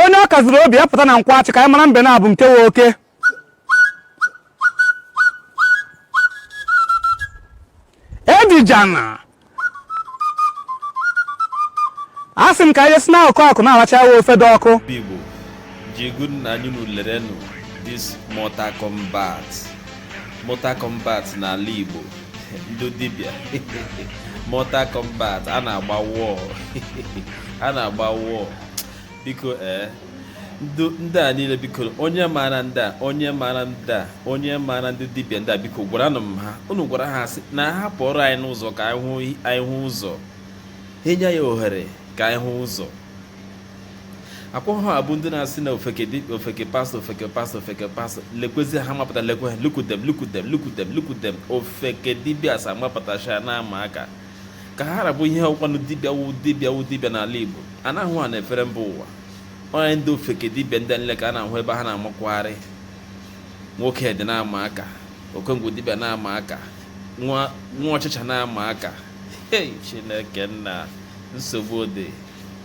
onye ọ kaziri obi ya pụta na Nkwọ Achi ka anyị mara mbe n'abọ nke wụ oke edijana a sị m ka anyị si n'akụkụ na-aracha ya ofe dị ọkụ Igbo ji egwu nna anyị unu lerenụ this Mortal Kombat Mortal Kombat n'ala Igbo ndị dibịa Mortal Kombat a na-agba wọọ a na-agba wọọ biko ee eh, ndị a niile biko onye maara ndị a onye maara ndị a onye maara ndị dibịa ndị a biko gwaranụ m ha unu gwara ha sị na ha pụọrọ anyị n'ụzọ ka anyị hụ ụzọ ha enye anyị ohere ka anyị hụ ụzọ akwa ha abụ ndị na-asị na ofeke dibịa ofeke pastọ ofeke pastọ ofeke pastọ lekwezi ha mapụta lekwe ha lukudem lukudem lukudem lukudem ofeke dibịa sa mapụtacha na ama aka ka ha rabụ ihe ọkwanụ dibịa wu dibịa wu dibịa n'ala igbo a na-ahụ ha na-efere mba ụwa onye ndị ofeke dibịa ndị nleka a na-ahụ ebe ha na-amakwagharị nwoke dị na-ama aka okongwu dibịa na-ama aka nwa ọchịcha na-ama aka hei chineke nna nsogbu dị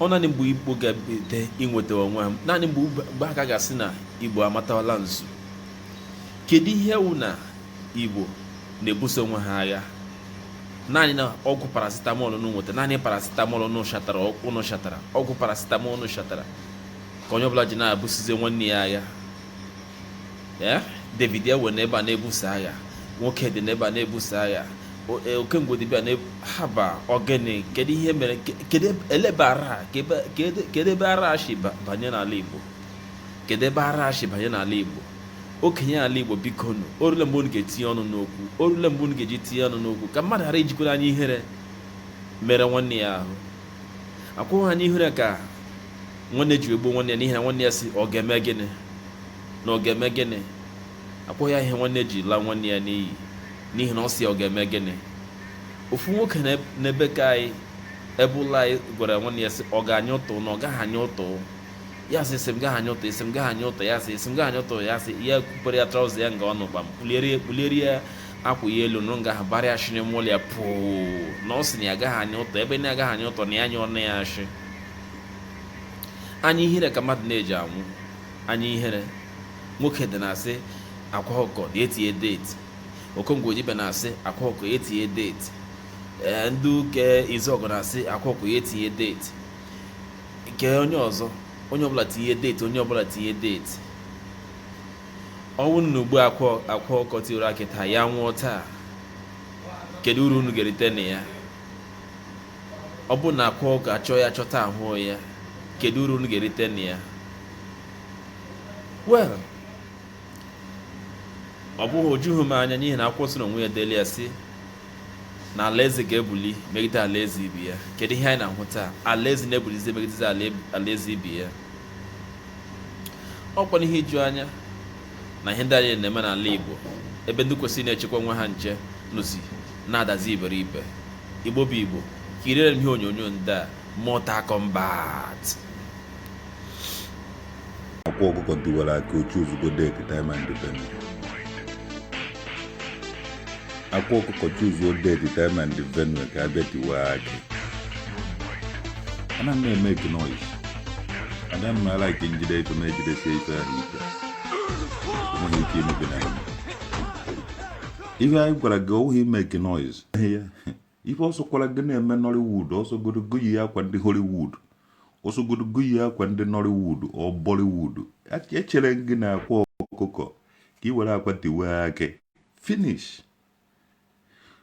ọ naanị mgbe igbo ga-ebido inweta onwe ha naanị mgbe mgbe a ka ga-asị na igbo amatawala nzu kedu ihe wụ na igbo na-ebuso onwe ha agha naanị na ọgwụ paracetamol unu nweta naanị paracetamol unu shatara unu shatara ọgwụ paracetamol unu shatara ka onye ọbụla ji na-ebusizi nwanne ya agha eh, david ewe na ebe a na-ebuso agha nwoke dị na ebe a na-ebuso agha eh, okengwu dibịa na haba ogene kedu ihe mere kedu elebe ara kedu ebe ara shi banye n'ala igbo kedu ebe ara shi banye n'ala igbo okenye ala igbo bikonụ orule mgbe unu ga-etinye ọnụ n'okwu orule mgbe unu ga-eji tinye ọnụ n'okwu ka mmadụ ghara ijikwara anya ihere mere nwanne ya ahụ ọkwa anya ihere ka nwanne ji egbu nwanne ya n'ihi na nwanne ya sị ọ ga-eme gịnị na ọ ga-eme gịnị akwụghị ya ihe nwanne ji laa nwanne ya n'iyi n'ihi na ọ sị ọ ga-eme gịnị ofu nwoke n'ebe ka anyị ebe ụlọ anyị gwara nwanne ya sị ọ ga-anya ụtụ na ọ gaghị anya ụtụ ya sị ị sị m gaghị anya ụtụ ị sị m gaghị anya ụtụ ya sị ị sị m gaghị anya ụtụ ya sị ya kupere ya traụza ya nga ọnụ kpam kpuliere ya kpuliere ya akwa ya elu nụrụ nga ha bara ya shiri mụlụ ya pụụ na ọ sị na ya gaghị anya ụtụ ebe na ya gaghị anya ụtụ na ya anya ọnụ ya ashị anya ihere ka mmadụ na-eji anwụ anya ihere nwoke dị na-asị akwa ọkụkọ ya tinye deeti okengwu dibịa na-asị akwa ọkụkọ ya tinye deeti ee ndị ụka izuọgụ na-asị akwa ọkụkọ ya tinye deeti nke onye ọzọ onye ọbụla tinye deeti onye ọbụla tinye deeti ọ wụ na egbuo akwa ọkụkọ tiwara akị taa ya nwụọ taa kedu uru unu ga-erite na ya Ọ bụrụ na akwa ọkụkọ achọọ ya chọta ahụọ ya, kedu uru unu ga-erite na ya? Well, ọ bụghị o jughị m anya n'ihi na akwụkwọ nsọ n'onwe ya deli ya sị na alaeze ga-ebuli megide alaeze ibe ya kedu ihe anyị na-ahụ taa alaeze na-ebulizi megidezi alaeze ibe ya ọkwanụ ihe iju anya na ihe ndị a niile na-eme n'ala Igbo ebe ndị kwesịrị na-echekwa onwe ha nche nọzi na-adazi iberibe Igbo bụ Igbo kiriere m ihe onyonyo ndị a Mortal Kombat akwa ọkụkọ tiwara akị o chuzugo date time and venue akwa ọkụkọ chuzuo date time and venue ka a bịa tiwa akị ana m emake noise ada m ala ike m jide ife m ejidesie ife ahụ ike enweghị ike imebi na ihe anyị gwara gị ọ wụghị ịmake noise ife ọ sọkwara gị na-eme Nollywood ọ sọgodu gị yi akwa ndị Hollywood ọ sọgodu gị yi akwa ndị Nollywood or Bollywood echere gị na akwa ọkụkọ ka ị were akwa tiwa akị finish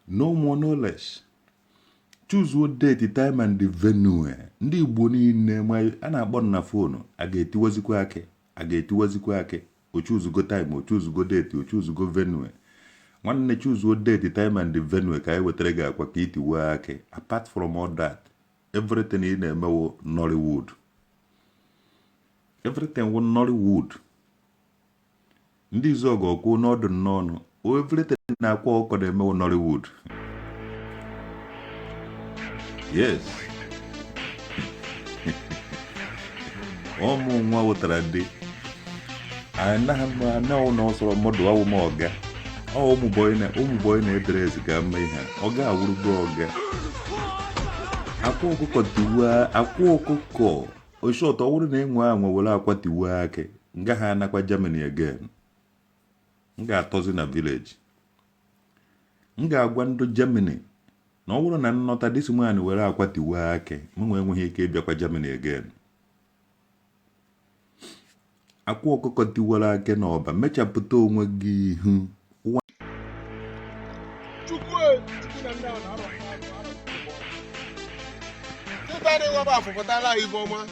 no more no less chuzuo date time and the venue eh. ndị Igbo niile a na-akpọ na phone a ga-etiwazikwa akị a ga-etiwazikwa akị o chuzugo time o chuzugo date o chuzugo venue nwanne chuzuo date time and venue ka anyị wetara gị akwa ka i tiwee akị apart from all that everything ị na-eme wụ Nollywood everything wụ Nollywood Ndị Izuọgụ ọkwụ n'ọdụ n'ọnụ everything na akwa ọkụkọ na-eme wụ Nollywood yes ụmụ nwa wụtara ndị anaghị m anaghị na ọsọrọ mmadụ awụ m ọga ọ ụmụ bọyị na ụmụ bọyị na-edere ezi ga mma ihe a. ọga awụrụgo ọga akwa ọkụkọ tiwa akwa ọkụkọ oshọt ọ bụrụ na enwe anwe were akwa tiwa akị m gaha anakwa Germany again m ga-atọzi na village m ga-agwa ndị Germany na ọ bụrụ na nnọta this man were akwa tiwe akị mụnwa enweghị ike ịbịakwa Germany again akwa ọkụkọ tiwara akị na ọba mechapụta onwe gị ihu Tụtara ịwaba afụpụtala ibe ọma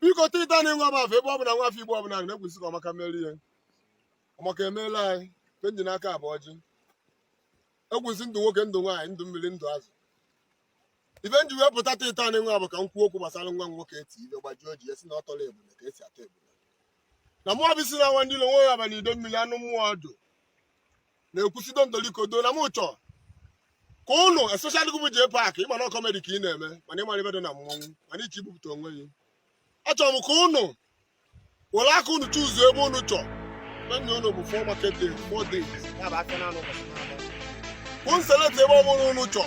biko taata nịnwa bụ afọ ebe ọbụla nwa afọ Igbo ọbụla na-ekwu sị ka ọmaka mere ihe ọmaka emeela anyị mgbe m ji n'aka bụ ọjị ekwu sị ndụ nwoke ndụ nwaanyị ndụ mmiri ndụ azụ ife m ji wee pụta taata nịnwa bụ ka m kwuo okwu gbasara nwa nwoke eti ibe gbajuo ji esi na ọ tọrọ ebule ka esi ata ebule na mụọ bụ isi na nwa ndị ilo nwe ya abalị Idemmiri anụ mmụọ ọdụ na-ekwusi dondolikodo na m chọọ ka ụnụ especially gị bụ jee pak ị ma na kọmedi ka ị na-eme mana ị mara ife dị na mmọnwụ mana iche ibupụta onwe gị achọrọ m ka ụnụ were aka ụnụ chuzuo ebe ụnụ chọọ m enye ụnụ bụ four market day four days ya bụ afịa na anọ ụbọchị na anọ. ka ụnụ select ebe ọ bụla ụnụ chọọ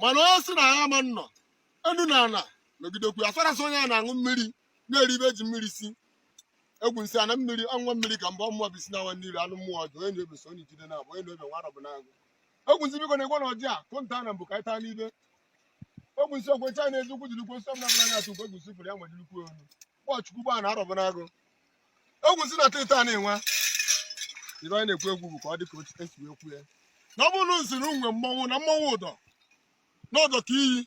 mana onye si na ya ama nnọ enu na ana nọgidekwu ya farasị onye a na-aṅụ mmiri na-eri ife e ji mmiri si egwu nsị ana mmiri ọṅụṅụ mmiri ka mgbe ọmụwa bisi na nwa mmiri anụ mmụọ ọjọọ onye na-ebe so onye jide na abụ onye na-ebe nwa arọbụ na agụ egwu nsị biko na-egwe na ọjị a kụnta na mbụ ka anyị taa n'ibe egwu nsị okwe ncha na-ezi ukwu jiri kwe nsọ m na-abụla na-atụ ukwu egwu nsị fụrụ ya nwa jiri kwe onu kpọchukwu gbaa na arọbụ n'agụ egwu si na teta na-enwe ife anyị na-ekwu egwu bụ ka ọ dị ka otu e si wee kwue na ọ bụrụ nsi na unwe mmọnwụ na mmọnwụ ụdọ na ụdọ ka iyi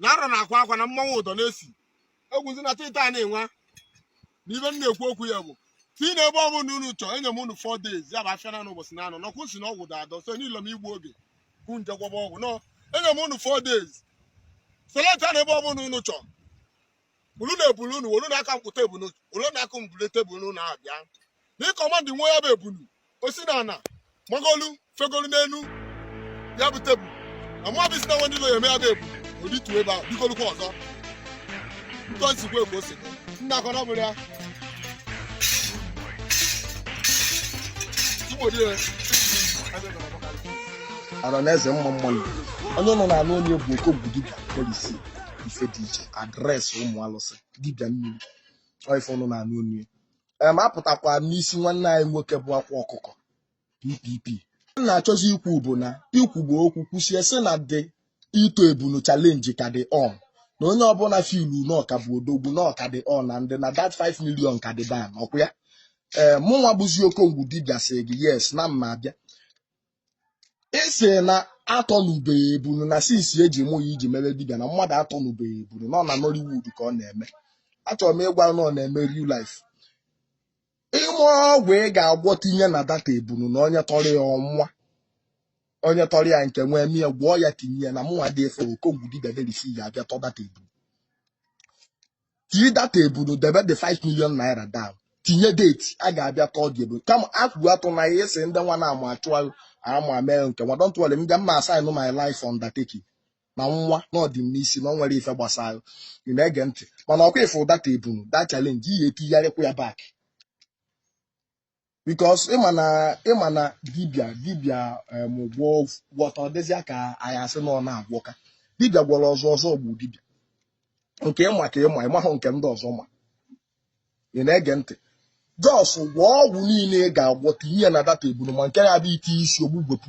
na arọ na-akwa akwa na mmọnwụ ụdọ na-esi egwu si na teta na-enwe na ife m na-ekwu okwu ya bụ si na ebe ọ bụla unu chọọ enye m unu 4 days ya bụ afịa na anọ ụbọchị na anọ nọkwụ si na ọgwụ da adọ so n'ilo m igbu oge hụ nje gwọba ọgwụ nọ enye m unu 4 days seleta na ebe ọ bụla unu chọọ unu na-ebulu unu wolu na aka mkpụta ebunu wolu na aka mbule tebụl unu na-abịa na ịkọmandị nwe ya bụ ebunu o si na ana magolu fegolu n'elu ya bụ tebụl na mmadụ si na nwe ndị ụlọ ya eme ya bụ ebunu oditu ebe a bigolukwa ọzọ ntọ nsikwa egwu ose nna akọ na ọ bụrụ ya igbo dị ya ara na eze mma mmanụ onye nọ n'ala onye bụ okongwu dibịa polisi ife dị iche adreesị ụmụ alụsị dibịa mmiri ife ọnụ na anụ onye em apụtakwa n'isi nwanne anyị nwoke bụ akwa ọkụkọ ppp na-achọzi ikwu bụ na ikwugbo okwu kwusie sị na the ịtọ ebunu challenge ka dị on na onye ọbụla filu na ọ ka bụ odogwu na ọ ka dị on na ndị na that 5 million ka dị down ọkwa ya ee mụnwa bụzi okongwu dibịa sị gị yes na m ma abịa ị sị na atọnubeghị ebulu na since e ji mụ ya i ji mebe dibịa na mmadụ atọnubeghị ebulu na ọ na Nollywood ka ọ na-eme achọrọ m ịgwa na ọ na-eme real life i nwee ọgwụ ị ga-agwọ tinye na that ebulu na onye tọrọ ya ọnwa onye tọrọ ya nke nwee mie gwọọ ya tinye ya na mụnwa dị efe okongwu dibịa derisi ya abịa tọ that ebulu tinye that ebunu debe the 5 million naira down tinye date a ga-abịa tọọ the ebunu kama akwụ atụ na ihe si ndị nwa na-amụ achụ ama mee nke nwa don't worry m ga mma sign my life undertaking na nwa na ọ dị m n'isi na ọ nwere ife gbasara ị na-ege ntị mana ọkwa ị fụ that ebunu that challenge ihe etigharịkwa ya back because ịma na ịma na dibịa dibịa em, gwọ gwọta ọ dịzịa ka anyị asị na ọ na-agwọka dibịa gwọrọ ọzọ ọzọ gbuo dibịa nke ịma ka ịma ịmahụ nke ndị ọzọ ma ị na-ege ntị just gwọọ ọgwụ niile ị ga-agwọta ihe na data eburu ma nke ya bụ ite isi ogbugwepụ